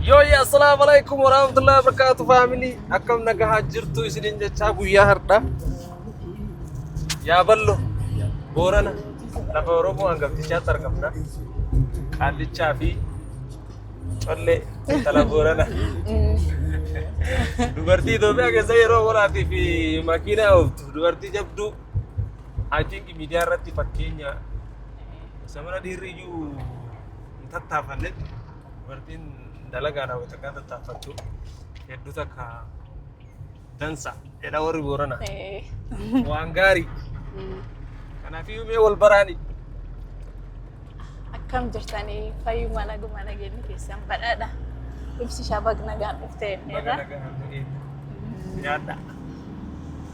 Yooyya assalaamu alaikum warahmatullahi wabarakatuh faamilii akkam nagahaa jirtu isinin jechaa guyyaa hardha yaa ballo boorana lafa oromoo hangaftichaatti argamna qaallichaa fi collee intala boorana dubartii Itoophiyaa keessa yeroo waraatii fi makiinaa ooftu dubartii jabduu I think miidiyaa irratti fakkeenya samana dhiirri iyyuu hin tattaafanne dubartiin dalagaa raawwatu akka tattaaffattu hedduu takka dansa jedha warri boorana Eh, waan gaarii mm. kanaaf mee wal baraani Akkam jirtanii fayyuma naguma nageenyi keessan badhaadha. Ibsi shabaq nagaan dhuftee baga irra. nagaan nu eegdu. yaadda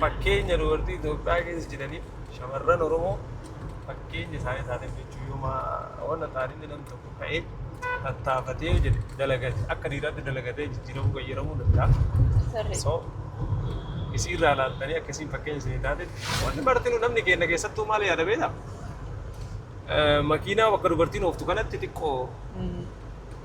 Fakkeenya dubartii Itoophiyaa keessa jiraniif shamarran Oromoo fakkeenya isaanii isaaniif jechuun yooma wanta taatee namni tokko ka'ee tattaafatee yoo jedhe dalagate akka dhiiraatti dalagatee jijjiiramuu qayyaramuu danda'a. Sirrii. So isii irraa laaltanii akka isiin fakkeenya isinii taatetti wanti martinuu namni keenya keessattuu maal yaada beektaa? Makiinaa bakka dubartiin ooftu kanatti xiqqoo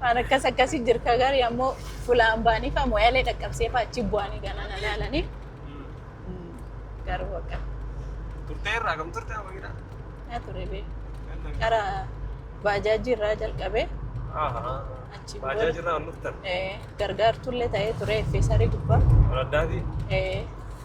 Waan akkas akkasii jirka garii ammoo fulaan baanii fa moyalee dhaqqabsee fa achi bu'anii gana na laalanii. Garuu akka Turtee irraa kam turtee amma gidhaa? na ture bee. Gara baajaajii irraa jalqabee achi Baajaa booda jirraa ol dhuftan. eh, gargaartullee ta'ee ture effeesarii gubbaa. Ol addaatii. Eh,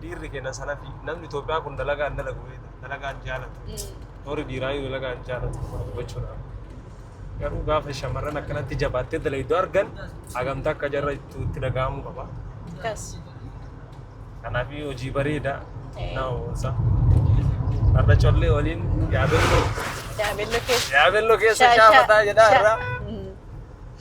dhiirri keenya sanafi namni Itoophiyaa kun dalagaan dalagu beekta dalagaan jaalatu warri dhiiraayyuu dalagaan jaalatu gochuudha. Garuu gaafa shamarran akkanatti jabaattee dalaydoo argan hagamtaa akka jarra ittuu itti dhaga'amuu qaba. Kas. Kanaaf hojii bareeda nama boonsa. Har'a collee waliin yaabelloo Yaabelloo keessa. yaabelloo keessa Sha- sha- shaafataa jedhaa sha- irraa. Mm.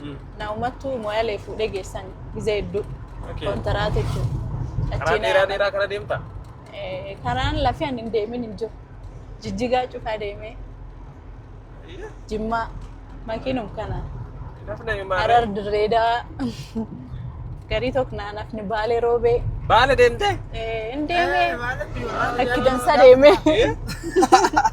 Mm. na umattu moyalee fuudhee geessan gizee hedduu Okay. kontaraata jechuudha. Karaa Achiin dheeraa haadha- dheeraa kana deemta? Eh, karaan lafee ani hin deemin hin jiru. Jijjigaa cufaa deemee jimmaa makiinum kana Nafna himaa. harar dirreedaa garii tokko naanafni baalee roobee Baala deemtee? eh, hin deemee akkidansa deemee. Eh?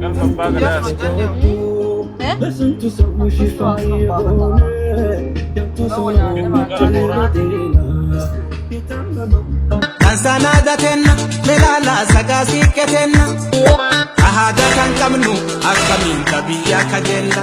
Galma abbaa gadaa as Kan sanaada kenna melaala sagaa siiqqe kenna. Ahaadaa kan qabnu akkamiin biyya akka jenna.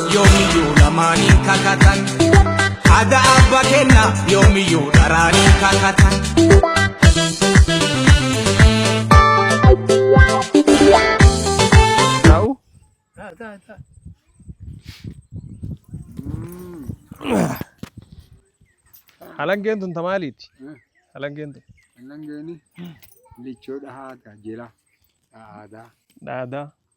yoomiyyuu namaan hin kakatan ada abba kenna yoomiyyuu dharaan hin kakatan Taa'u. Halangeen tun ta maaliiti? Halangeen tun Annan geeni lichoodha haata jira aadaa. dhaadaa.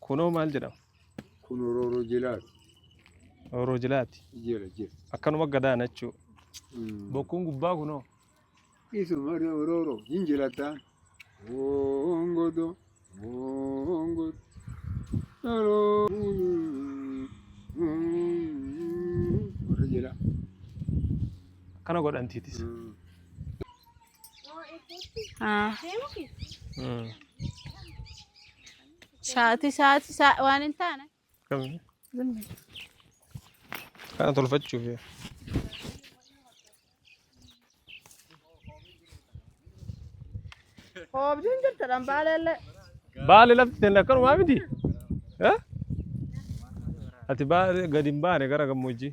Kunoo maal jedhama? Kun orooroo jilaati. Orooroo jilaati. Jila jila. Akkanuma gadaana jechuu. Bokkuun gubbaa kunoo. Isuma orooroo hin jilataan. Hoongodo hoongodo. Warra jila. Akkana godhantiitis. Mm. Ah. Hmm. Sa'aatii sa'aatii sa'a waan hin taane. Kamni? Kana tolfachuuf yaa. Hoobdiin jirta dhambaaleellee. Baale lafti tenne akkanumaa miti. Eh? Ati baale gadi hin baane gara gammoojjii.